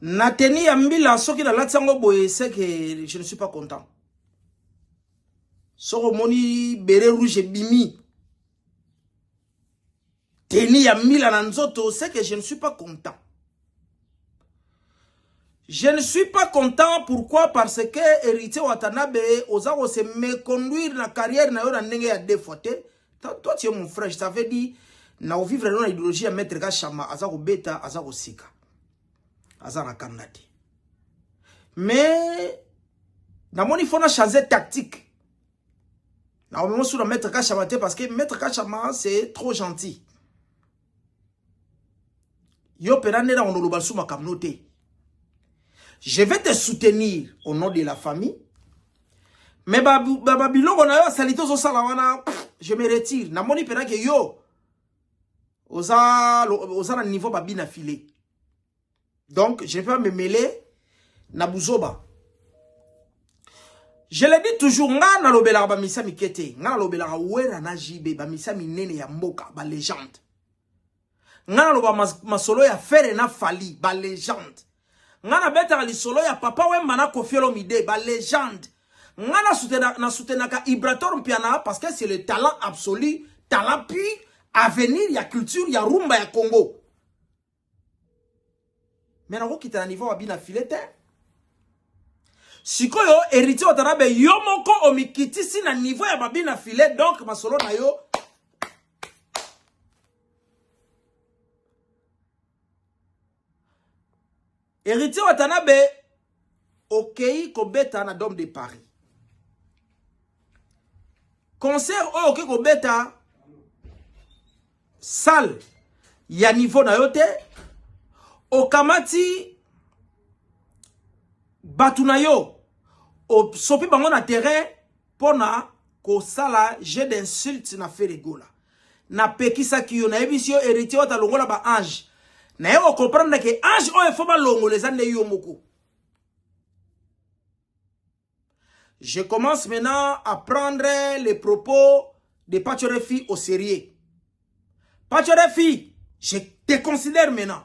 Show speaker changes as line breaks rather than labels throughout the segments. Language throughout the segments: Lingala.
na teni ya mbila soki nalati yango boye seke je ne suis pas content soki omoni bere rouge ebimi teni ya mbila na nzoto seke je ne suis pas content je ne suis pas content pourquoi parce que héritier watanabe oza kose me conduire na carrière na yo na ndenge ya deux fois te toi tu es mon frère je t'avais dit na ovivre na ideologie ya maître kashama aza kobeta aza koseka aza na kanda te mais namoni fona change tactique naomema suna maître kashama te parce que maître kashama c'est trop gentil Yo pena nena onoloba sous makambo te. Je vais te soutenir au nom de la famille. Mais ba ba, ba biloko na yo salite zo sala wana je me retire. Na moni pena ke yo oza oza na niveau babina filet. Donc, je ne vais pas me mêler na buzoba. Je le dis toujours, nga na lobelaka ba misa mikete, nga na lobelaka wera na JB, ba misa minene ya mboka, ba legende. Nga na loba mas, masolo ya fere na fali, ba legende. Nga na betaka lisolo ya papa wemba na kofiolo mide, ba legende. Nga na soutenaka, na soutenaka Ibrator Mpiana, parce que c'est le talent absolu, talent puis avenir ya culture ya rumba ya Congo. mais nakokita na niveau mabi na file te sikoyo héritier watanabe yo moko omikitisi na niveau ya mabi na file donc masolo na yo Heritier Watanabe okei kobeta na Dome de Paris. Concert oyo okei kobeta salle ya niveau na yo te okamati bato na yo osopi bango na terrain pona kosala jeu d'insulte na Ferre Gola. Napekisaki yo, nayebisi yo Heritier Wata longola ba ange. Naye o comprendre ke ange oyo faut balongola eza nde yo moko. Je commence maintenant à prendre les propos de Pacho Refi au sérieux. Pacho Refi, je te considère maintenant.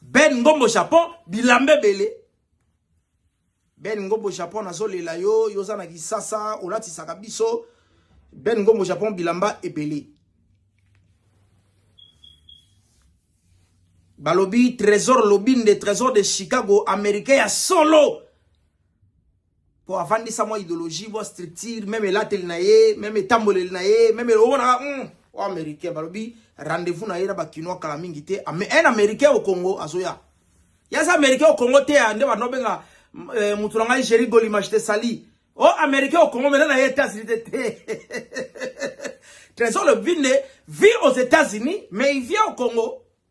Ben Ngombo Japon bilamba ebele Ben Ngombo Japon nazolela yo yo oza na kisasa olatisaka biso Ben Ngombo Japon bilamba ebele balobi trésor lobinde trésor de Chicago américain ya solo po avandisa mwa ideologie mwa structure meme elateli na ye meme etamboleli na ye meme omonaka mm, o américain balobi rendez-vous na ye na bakinois kala mingi te un américain au congo azoya yaza américain au congo te nde bando obenga eh, motu na ngai géri golimage te sali o américain au congo mena na ye états-unis te te trésor le binde vit aux états-unis mais il vient au congo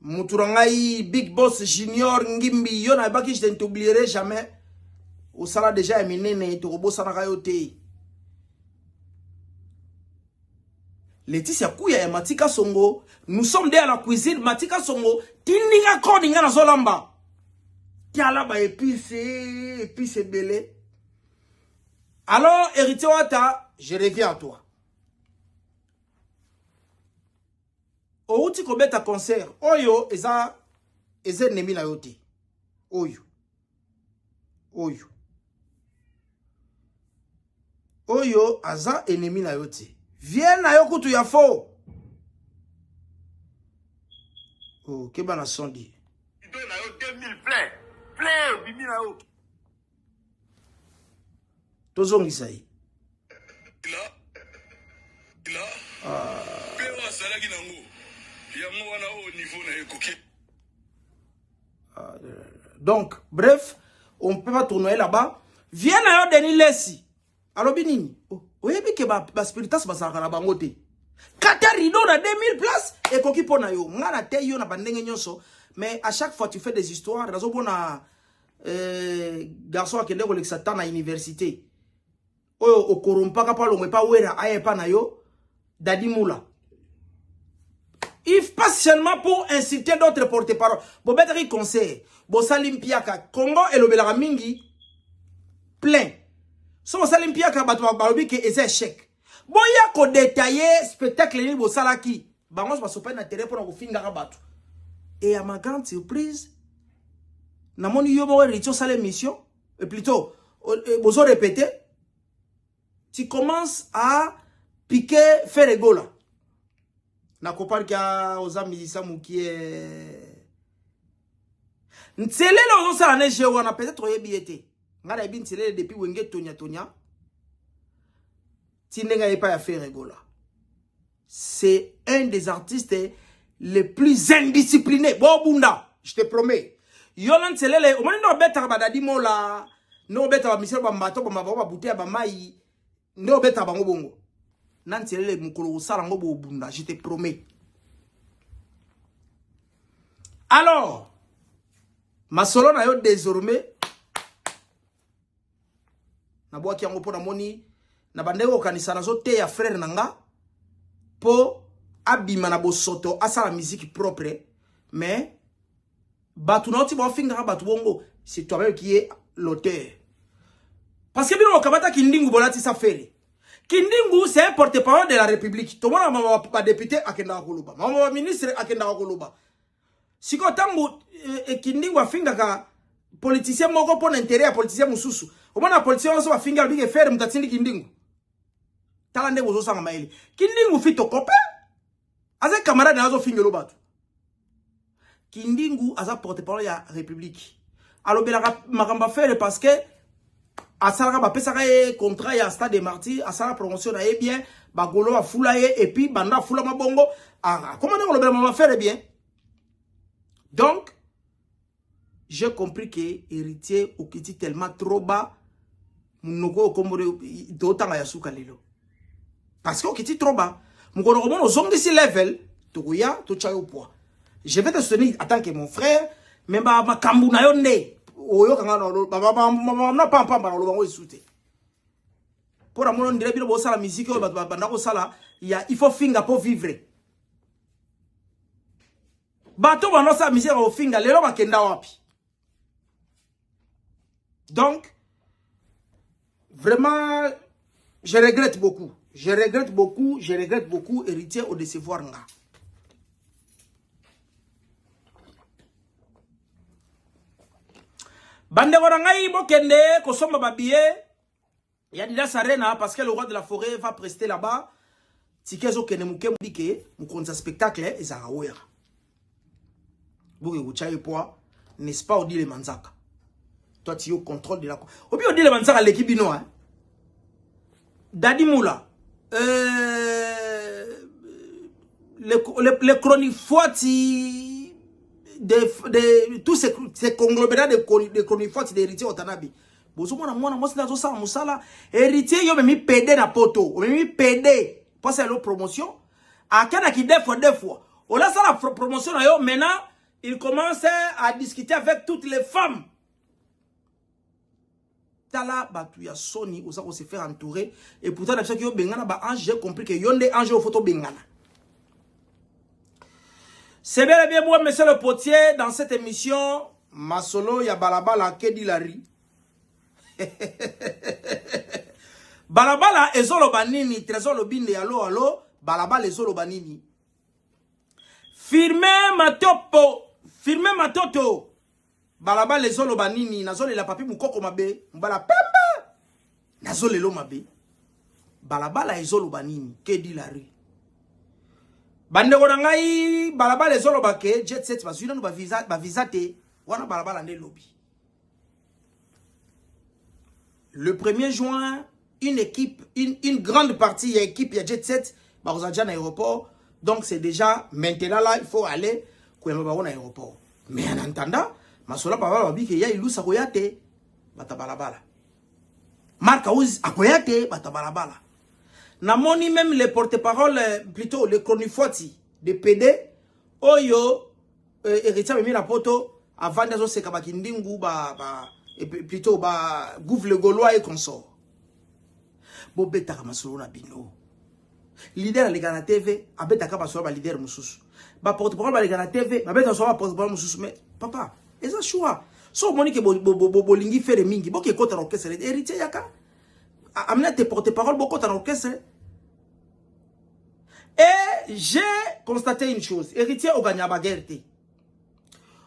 mutu na ngai big boss junior ngimbi yo nayebaki je ne t'oublierai jamais osala deja ya minene tokobosanaka yo te leticia kuya ya matika songo nous sommes deya na cuisine matika songo tindinga koni nga nazolamba tiala ba epice epice ebele alors héritier wata je reviens à toi Owuti kobeta concert oyo eza eza ennemi na yo te oyo oyo oyo aza ennemi na yo te vie na yo kutu ya faux oh, keba na sondi plein
plein obimi na yo
tozongisa ye mpe oyo azalaki nango yango wana oyo niveau na ye ekoki donc bref on peut pas tournoyer là-bas viens na yo denis lesi alobi nini oh, oyebi ke baspiritas bazalaka na bango te kata rideau na 2000 place ekoki mpo na yo ngai nateyi yo na bandenge nyonso mais à chaque fois tu fais des histoires nazomona eh, garçon akende kolekisa temps na université oyo okorompaka mpo alongwe mpa wera aya epa na yo dadi mula if pas seulement pour insulter d'autres porte parole bobetaki conseil bosali mpiaka congo elobelaka mingi plein soki osali mpiaka bato balobi ke eza échec Boya ko detailler spectacle nini bosalaki. Bango nyonso basopani na terrain mpo na kofingaka bato. Et à ma grande surprise, namoni yo moko Heritier osala émission, et plutôt euh, bozo répéter, tu commences à piquer Ferre Egola. Nakopalki ya oza musicien mukie. Nselele ozosala ne jeu wana peut-être oyebi ye te. Nga na yebi nselele depuis wenge tonya tonya. Tindenga yepa ya Ferre Gola. C'est un des artistes les plus indisciplinés. Bon bunda, je te promets. Yola nselele, omoni no betaka badadi mola, no betaka misel ba mbato ba mababa bouteille ba mai. nde obeta bango bongo na nselele mokolo kosala yango bobunda je te promets alors masolo na yo désormais nabwaki yango mpo namoni na bandenge kokanisa nazoteya frere na nga mpo abima na bosoto asala miziki propre mais bato na yo ti bafingaka bato bongo c'est toi-même qui est l'auteur parce que bino bokamata kindingu bolatisa fele kindingu c'est un porte parole de la république tomona mama badepute akendaka koloba mama baministre akendaka koloba sikoyo ntango eh, eh, kindingu afingaka politicien moko mpo na intere ya politicien mosusu omona politicien nyonso bafingi alobi ke fere moto atindi kindingu tala ndenge ozosanga mayele kindingu fito kope aza camarade na azo fingelo batu kindingu aza porte parole ya république alobelaka makambo afere parce que asalaka bapesaka ye contrat ya stade de martyr asala promotion na ye bien bagolo afula ye epuis banda afulama bongo akoma ndenge olobela mama fere bien donc j'ai compris que héritier okiti tellement trop bas munoko oyo kombo totanga ya suka lelo parce que okiti trop bas mokolo komona ozongisi level tokoya totya yo poids je vais te soutenir en tant que mon frère me makambo na yo nde oyoka nga na pampamba na oloba ngo esu te mpo na mono ndire bino bosala miziki oyo bato babanda kosala ya il faut finga mpo vivre Bato bana osala misère ya kofinga lelo bakenda wapi donc vraiment je regrette beaucoup je regrette beaucoup je regrette beaucoup héritier au décevoir nga bandeko na ngai bokende kosomba babiye Ya Adidas Arena parce que le roi de la forêt va prester là-bas. Ticket ezo kende muke mudike mukonzi ya spectacle eh, ezaka wera. Boke kucha ye poa, n'est-ce pas odile manzaka. Toi tu es au contrôle de la Obi odile manzaka leki bino hein. Daddy Moula euh, le, le, le chronifuati de, de tous ces, ces conglomérats de, de chronifuati d'héritier Watanabe bozomona mwana mwasi nde azosala mosala héritier yo omemi pede na poto omemi pede mpo asala yo promotion akendaki deux fois deux fois olasala promotion na yo maintenant il commence à discuter avec toutes les femmes tala bato ya soni oza ko se faire entourer et pourtant na biso ki yo bengana ba ange j'ai compris que yo nde ange oyo fo tobengana C'est bel et bien moi, monsieur le potier, dans cette émission, Masolo ya Balabala Kedilari. balabala ezoloba nini trésor lobinde ya lo alo balabala ezoloba nini firme matopo firme matoto Balabala ezo loba nini nazo lela papi mukoko mabe mbala pembe nazo lelo mabe balabala ezo loba nini que dit la rue bandeko na ngai balabala ezo loba ke jet set bazwi nanu ba visa ba visa te wana balabala nde lobi le 1er juin une équipe une, une grande partie ya équipe ya jet set bakozala déjà na aéroport donc c'est déjà maintenant là il faut aller koyamba bango na aéroport mais en attendant masola papa babi ke ya ilusa akoya te bata balabala mark house akoya te bata balabala namoni même le porte-parole plutôt le chronifuati de pede oyo Euh, Heritier amemi na poto avandi azoseka bakindingu ba, ba, plutôt ba gouve le gaulois et consort bobetaka masolo na bino leader aleka na tv abetaka masolo ya baleader mosusu baporte-parole baleka na tv babeta masolo ya baporte-parole mosusu mais papa eza choix so omoni ke bolingi fere mingi bokekota na orchestre héritier yaka amina te porte-parole bokota na orchestre Et j'ai constaté une chose, héritier oganya ba guerre te.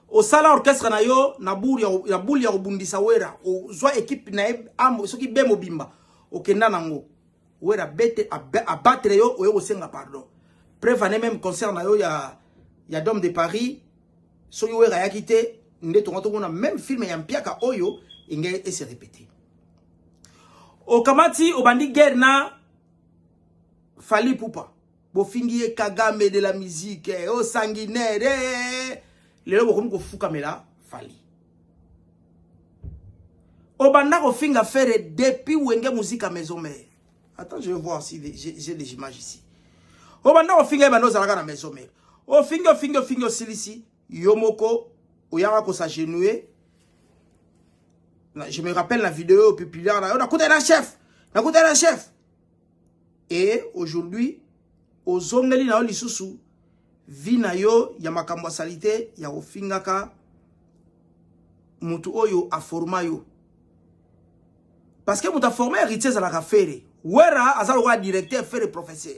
Osala orchestre na yo na boule ya na boule ya obundisa wera, ozwa équipe na amo soki be mobimba okenda nango. Wera bete abattre yo oyo osenga pardon. Preuve année même concert na yo ya ya Dom de Paris soki wera yaki te nde tonga tomona même film ya mpiaka oyo engenge ese répéter. Okamati obandi guerre na Fally Ipupa bofingi ye Kagame de la musique eh, oh sanguinaire eh. lelo bokomi kofukamela Fally obanda kofinga Ferre depuis Wenge Musique à Maison Mère attends je vais voir si j'ai des images ici obanda kofinga ye banda ozalaka na Maison Mère ofingi ofingi ofingi osilisi yo moko oyaka ko s'agenouiller je me rappelle la vidéo oyo pipilaka na yo nakutaki na chef nakutaki na chef et aujourd'hui ozongeli na yo lisusu vi na yo ya makambo ya salite ya kofingaka motu oyo aforma yo parce que moto aforma héritier ezalaka fere wera aza lokola directeur fere professeur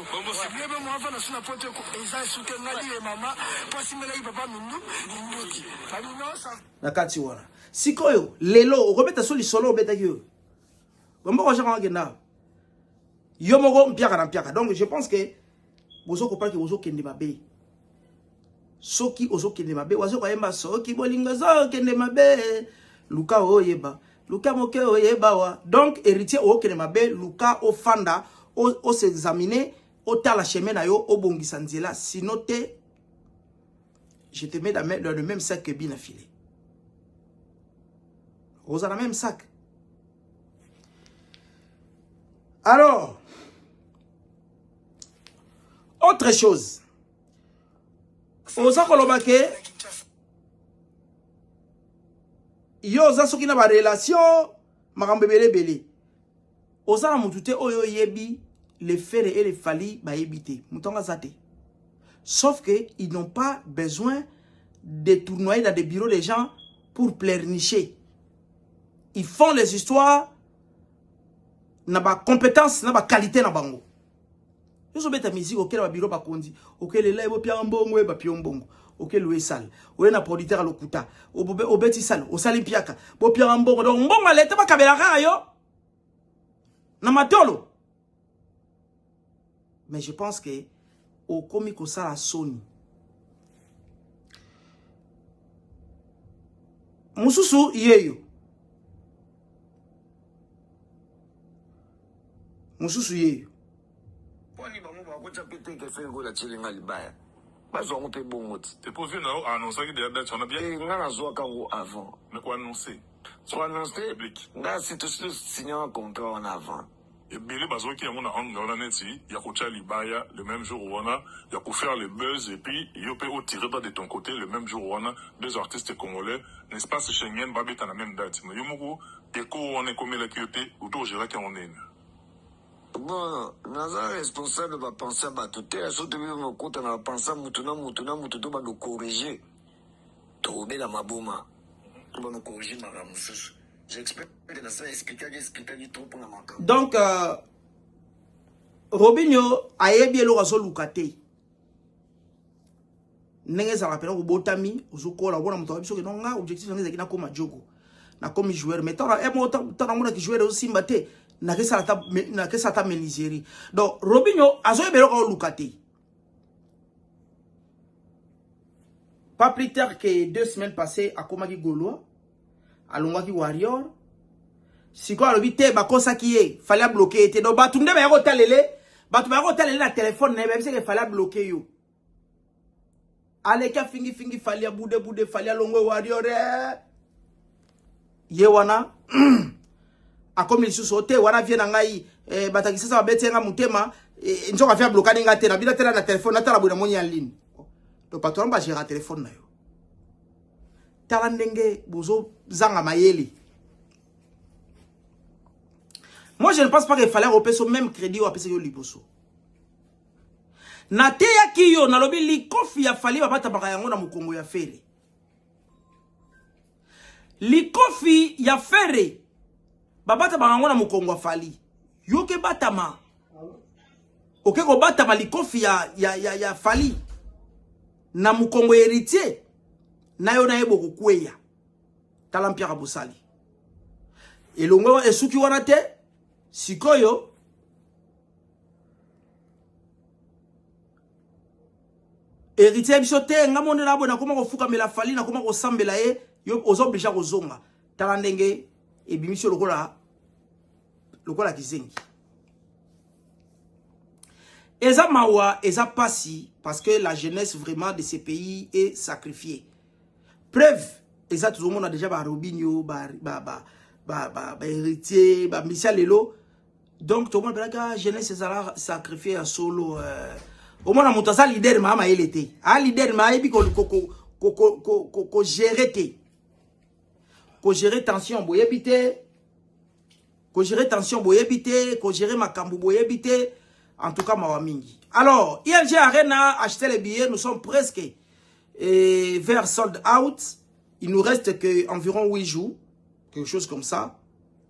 Bongo c'est bien meme avanda sous na poto eko eza suke ngadi ye mama po asimbelaki papa mindu minduki bami non ça na kati wana sikoyo lelo okobeta so lisolo obetaki oyo bambo kwa shaka ngenda yo moko mpiaka na mpiaka donc je pense que bozo kopaki bozo kende mabe soki ozokende mabe wazoka yemba soki bolingo ezokende mabe luka oyeba luka moke oyeba wa donc héritier okende mabe luka ofanda osexamine otala chemin na yo obongisa nzela sino te je te mets dans le même sac que bina filet oza na même sac alors autre chose oza koloba ke yo oza soki na barelation makambo ebele ebele oza na motu te oyo oyebi le fere e le fali bayebi te moto yango aza te sauf que ils n'ont pas besoin de tournoyer dans des bureaux des gens pour pleurnicher ils font les histoires na ba compétences na ba qualité na bango yoso beta musique okela ba bureau bakonzi okela elai bo pia mbongo ba pio mbongo okela oye sale oye na producteur lokuta obeti sale osali mpiaka bo pia mbongo donc mbongo aleta bakabela kaka yo na matolo mais je pense que okomi kosala soni mosusu yeyo mosusu yeyo poni
bango bakotya mpe te ke soki ekola tyelinga libaya bazwa yango mpe bongo ti epozi na yo anonsaki
deya date wana bien eh, nga nazwaka yango
avant mais koannonce
soannonce
nga sitositu signaka contrat wana avant Ebele bazuaki
yango na angle wana neti ya kotia libaya le meme jour wana ya ko faire le buzz et puis yo pe o tirer droit de ton cote le meme jour wana deux artistes congolais na espace Schengen ba beta na meme date mais yo moko echo wana ekomelaki yo te ou to o geraki yango ndenge Bon,
naza responsable ba pensee ya batu te, surtout bino bokotana ba pensee ya mutu na mutu na mutu to bando corriger. Tokobela maboma loba no corriger makambo mosusu j'explique na sala explikaki explikaki trop mpona makambo donc
euh, robinio ayebi eloko azoluka te ndenge ezalaka mpena kobotami ozokola obona moto ayebi soki nonga objectif yango ezalaki nakoma jogo nakomi joueur mais tala eh, ntango namonaki joueur ezosimba te nakesala ata meniserie donc robinio azoyeba eloko aoluka te Pas plus tard que deux semaines passées, akomaki Gaulois, alongwaki Warrior. Sikoyo alobi te bakosaki ye, fallait abloquer ye te. Donc bato nde bayaki kotalele, bato bayaki kotalele na telefone na ye, bayebisaki fallait abloquer yo. aleki afingi fingi fali abude bude fali alongwe warrior eh. ye wana akomi lisusu te wana vie na ngai eh, batakisasa babeti nga motema eh, nzoka vie ablokani nga te nabina tela na telefone natala boye namoni ya ligne to bato wana bagera telefone na yo tala ndenge bozozanga mayele moi je ne pense pas que fallait opesa même crédit oyo apesaki yo liboso nateyaki yo nalobi likofi ya fali babatabaka yango na mokongo ya fere likofi ya fere babatabaka yango na mokongo ya fali yoke batama oke kobatama likofi ya, ya, ya, ya fali na mokongo ya heritier na yo na ye bokokweya tala mpiaka bosali elongo esuki wana te sikoyo héritier ya biso te nga monela boye nakoma kofukamela fali nakoma kosambela ye yo oza oblige ya kozonga tala ndenge ebimisi yo lokola lokola kizengi eza mawa eza pasi parce que la jeunesse vraiment de ce pays est sacrifiée preuve eza tozomona déjà ba robinio ba, ba, ba, ba, ba, ba héritier bamisia lelo donc tomona mpelaka ah, jeunesse ezala sacrifie ya solo euh, omona moto aza leader maa mayele te a ah, leader ma ayebi kogere te kogere tension boyebi te kogere tension boyebi te kogere makambo boyebi te en tout cas mawa mingi alors ilg arena acheter les billets nous sommes presque et vers sold out. Il nous reste que environ 8 jours, quelque chose comme ça.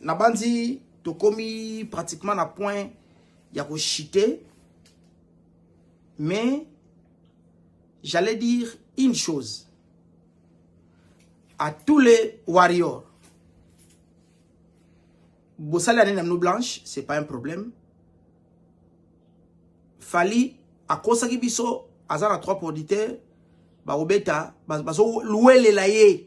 nabanzi tokomi pratiquement na point ya kochite mais j'allais dire une chose à tous les warriors bosali ane na mino blanche c'est pas un problème fali akosaki biso aza na trois producteurs bakobeta bazowelela ye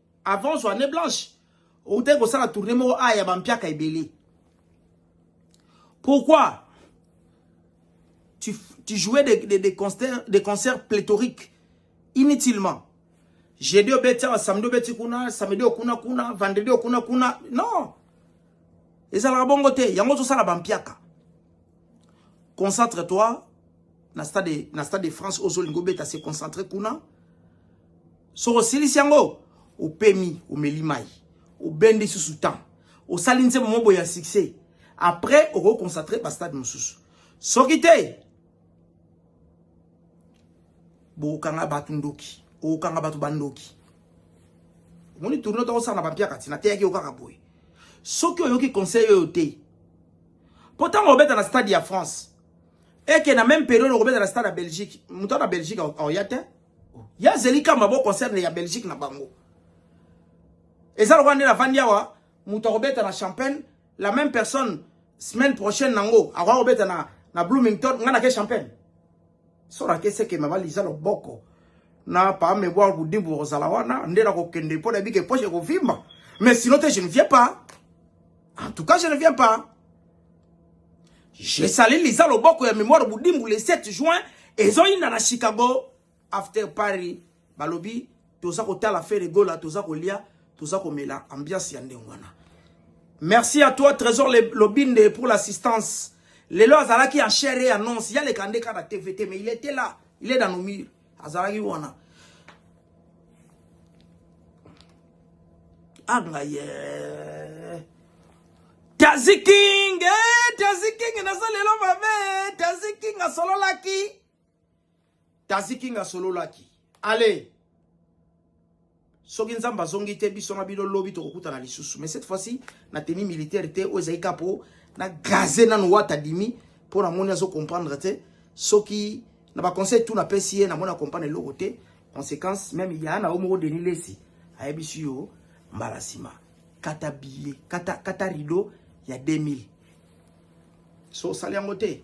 Avant zwa ne blanche, outaki kosala tournée moko a ya bampiaka ebele. Pourquoi tu, tu jouais des, des, des, concerts, des concerts pléthoriques inutilement. Jeudi obeti awa, samedi obeti kuna, samedi okuna kuna, vendredi okuna kuna. Non. Ezalaka bongo te, yango tozosala bampiaka. Concentre toi na stade na stade de France ozolingo beta se concentrer kuna. Soko silisi yango opemi omeli mai obendi susu temps osali nse momobo ya succès après okoconcentre bastade mosusu soki te bokokanga bato ndoki okokanga bato bandoki omoni tourno tokosala na bampiaka ti nateyaki yo kaka boye soki oyoki conseil oyo te Mpo ntango obeta na stade ya France, eke na meme periode okobeta na stade ya Belgique, moto na Belgique aoya te. Ya azeli kamba bo concerne ya Belgique na bango. Eza lokola nde navandi awa, moto akobeta na Champagne, la même personne semaine prochaine nango akoya kobeta na, na Bloomington, ngai nake Champagne. Sora akese ke mama liza loboko na pa mebwa kudibu kozala wana nde na kokende mpo na bike poche ekovimba mais sinon te je ne viens pas en tout cas je ne viens pas jesali liza loboko ya memoire budimbu le 7 juin ezoyinda na chicago after paris Balobi toza kotala Ferre Gola, toza kolia, toza komela ambiance ya ndenge wana. Merci à toi Trésor Lobinde pour l'assistance. Lelo azalaki en chair et en os, ya leka ndeka na TVT mais il était là, il est dans nos murs. Azalaki wana. Anga yeah. Tazi King, eh, Tazi King naza lelo mabe, Tazi King asololaki. Tazi King asololaki. Allez. Soki Nzambe azongi te biso na bino lobi tokokutana lisusu. Mais cette fois-ci na tenue militaire te oyo ezali kaka po na gaze nanu wata dimi po namoni azo comprendre te soki na ba conseil tout napesi ye namoni akomprendre eloko te conséquence meme ya na yo moko deni lesi ayebisi yo mbala nsima kata billet kata, kata rideau ya 2000 so osali yango te